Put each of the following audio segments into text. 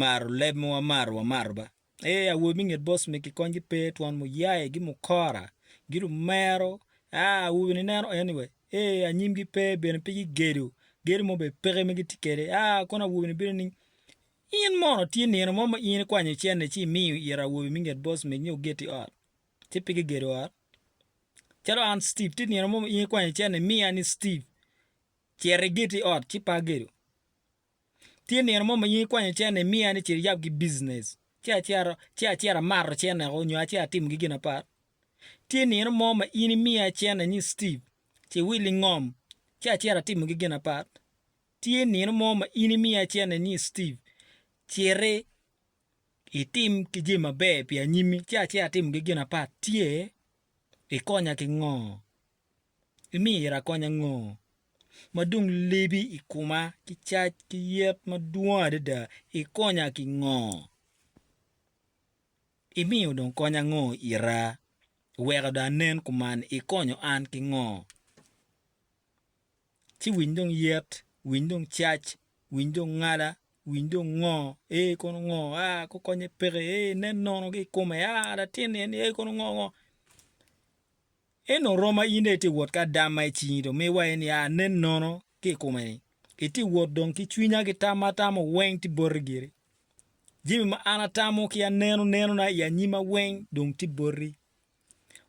maro leb ma wamaro wamaro ba. Ee, awobi me nget Bosme kikonygi pe twon muyaye gi mukora gi lumero, aa, awobi ni neno anyway, ee, anyimgi pe bene pe gigedo, gedo mo be peke ma gitye kede, aa, kono awobi ni bino ni, In mono tye nino mo ma in ikwanyo cene ci imiyo ira awobi me nget Bosme ni ogeti ot, ci pe gigedo ot? Calo an Steve, tye nino mo ma in ikwanyo cene imiya ni Steve, cito igeti ot ci pe agedo. Tye nino mo ma in ikwanyo cen ni imiya ni ce iyab ki business ci acito ci acito amato cenneko nyo ace atimo gi gin apat? Tye nino mo ma in imiya cen ni ni Steve ce iwil ingom ci acito atimo gi gin apat? Tye nino mo ma in imiya cen ni ni Steve citi itim ki jami maber pi anyimi ci acito atimo gi gin apat? Tye? Ikonya ki ngo? Imyero akony ango ma dong lebi i koma ki cac ki yet madwong adada? Ikonya ki ngo? Imiyo dong kony ango ita? Iweko dong anen kuman, ikonyo an ki ngo? Ci winy dong yet, winy dong cac, winy dong ngala, winy dong ngo, ee kono ngo, aa gukonye peke, ee nen nono ki i kome, aa latin-ni en ni, ee kono ngo ngo. En dong rom ma in dong itye wot ki adam ma i cingi dong mi wa en ya anen nono ki i kome ni itye wot dong ki cwinya ki tam ma atamo weng tye boti giri. Jami ma an atamo ki aneno nenona i anyima weng dong tye boti.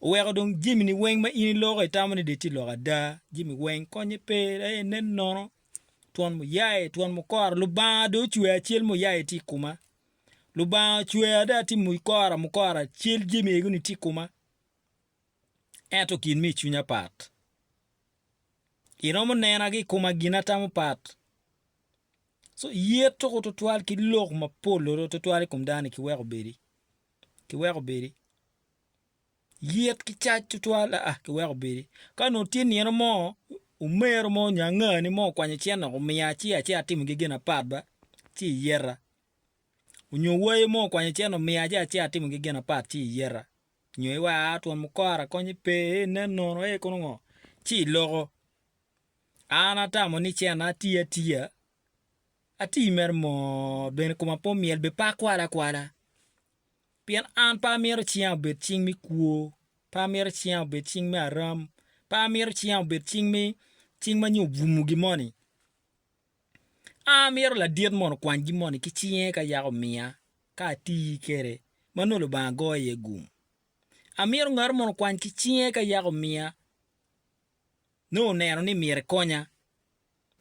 Oweko dong jami ni weng ma in iloko itamo ni de tye lok ada jami weng konye pe aye inen nono twon muyaye twon mukora lubanga dong ocweya acel muyaye tye i koma lubanga ocweya dong atye mukora mukora cal jami ego ni tye i koma. ento gin ma i cwinya pat. Iromo nena ki i koma gin atamo pat. So ye tuko twatwal ki lok mapol olo twatwal i kom dano-ni kiweko obedi, kiweko obedi. Yet ki cac twatwal aa kiweko obedi. Ka onongo tye nino mo, omero mo nyo angani mo okwanyo cen dok omiya ci ace atimo gegen apat ba ci iyeta. Onyo wayo mo okwanyo cen omiya ci ace atimo gegen apat ci iyeta. nyo iwa twon mukoro akonye pe ee nen nono ee kono ngo ci iloko an atamo ni cena ati atiya ati mere moo bene koma pe omyel bed pe akwal akwala pien an pe amito cinga obed cing me kwo pe amito cinga obed cing me aram pe amito cinga obed cing me cing ma nyo obumo gin moni. A Amito ladit mono okwany gin moni ki cinge ka yaka omiya ka ati kwede ma nongo Lubanga goyo iye gum. Amito ngat mono okwany ki cinge ka yaka omiya nongo oneno ni myero ekonya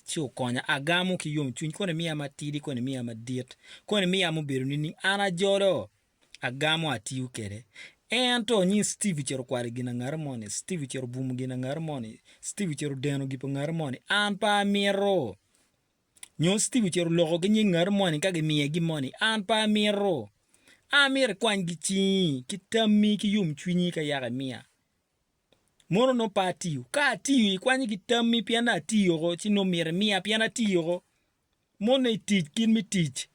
ci okonya. Agamo ki yomcwiny koni miya matidi koni miya madit, koni miya mubedo nining? An ajolo agamo atiyo kede. Ento onyi Steve ocito okwalo gin angati moni, Steve ocito obumo gin angati moni, Steve ocito odeno gin pa ngati moni, an pe amito. Nyo Steve ocito oloko ki nying ngati moni ka gimiye gin moni, an pe amito. An myero ikwany ki cingi, ki tammi, ki yomcwinyi ka yaka imiya. Mono nongo pe atiyo. Ka atiyo, ikwanyo ki tammi pien atiyo oko, ci nongo myero imiya pien atiyo oko. Mone i tic kit me tic,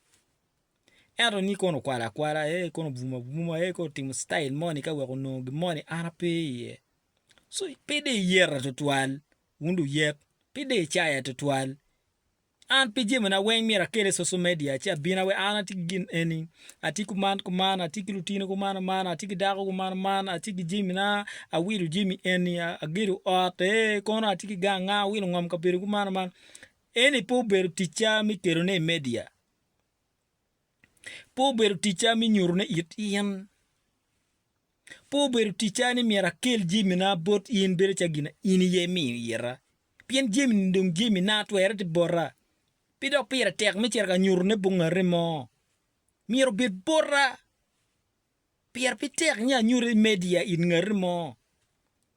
ento ni kono okwalo akwala, ee kono obwumo abwuma, ee kono otimo citail moni ka wek onongo gin moni an ape iye. So pe dong iyeta tutwal wun luyek, pe dong icaya tutwal. An pe jamina weng myero akel i social media ci abin awaci an atye ki gin eni, atye kuman kuman, atye ki lutino kuman kuman, atye ki dako kuman kuman, atye ki jamina, awilo jami eni, agedo ot, ee kono atye ki ganga, awilo ngom kabedo kuman kuman. Eni pe obedo ticca me kelone i media. Pe obedo ticca me nyutone it in. Pe obedo ticca ni myero akel jamina bot in bedo calo gin in aye imiyo ita. Pien jamini dong jamina, twere tye bota. Pe dok pire tek me cito ka nyutone bot ngat mo. Myero obed bota. Pire pe tek ni anyuto i media it ngati mo.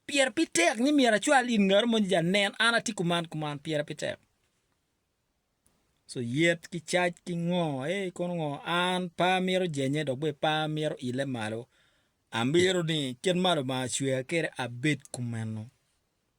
Pire pe tek ni myero acwal it ngati mo ni ja nen an atye kuman kuman pire pe tek. So yet ki cac ki ngo ei kono ngo an pe amito jenye dok bene pe amito ile malo. Amito ni kit ma Lubanga cweya kwede abed kumeno.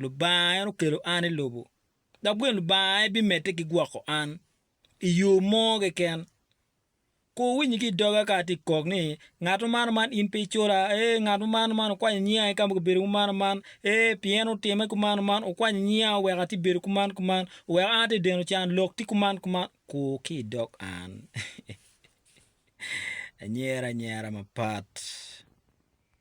Lubanga en okelo an i lobo, dok bene Lubanga en bimedde ki gwoko an i yo mo keken. Kur wunyi ki i doga ka atye ka kok ni, Ngat ma mano man in pe icola, ee, ngat ma mano man okwanyo nyinga ki ka ma kibedo kumano man, ee, pi en otimme kumano man, okwanyo nyinga, oweko atye ka bedo kuman kuman, oweko an atye ka deno can, lok tye kuman kuman. Kur ki i dog an. Anyero anyera mapat.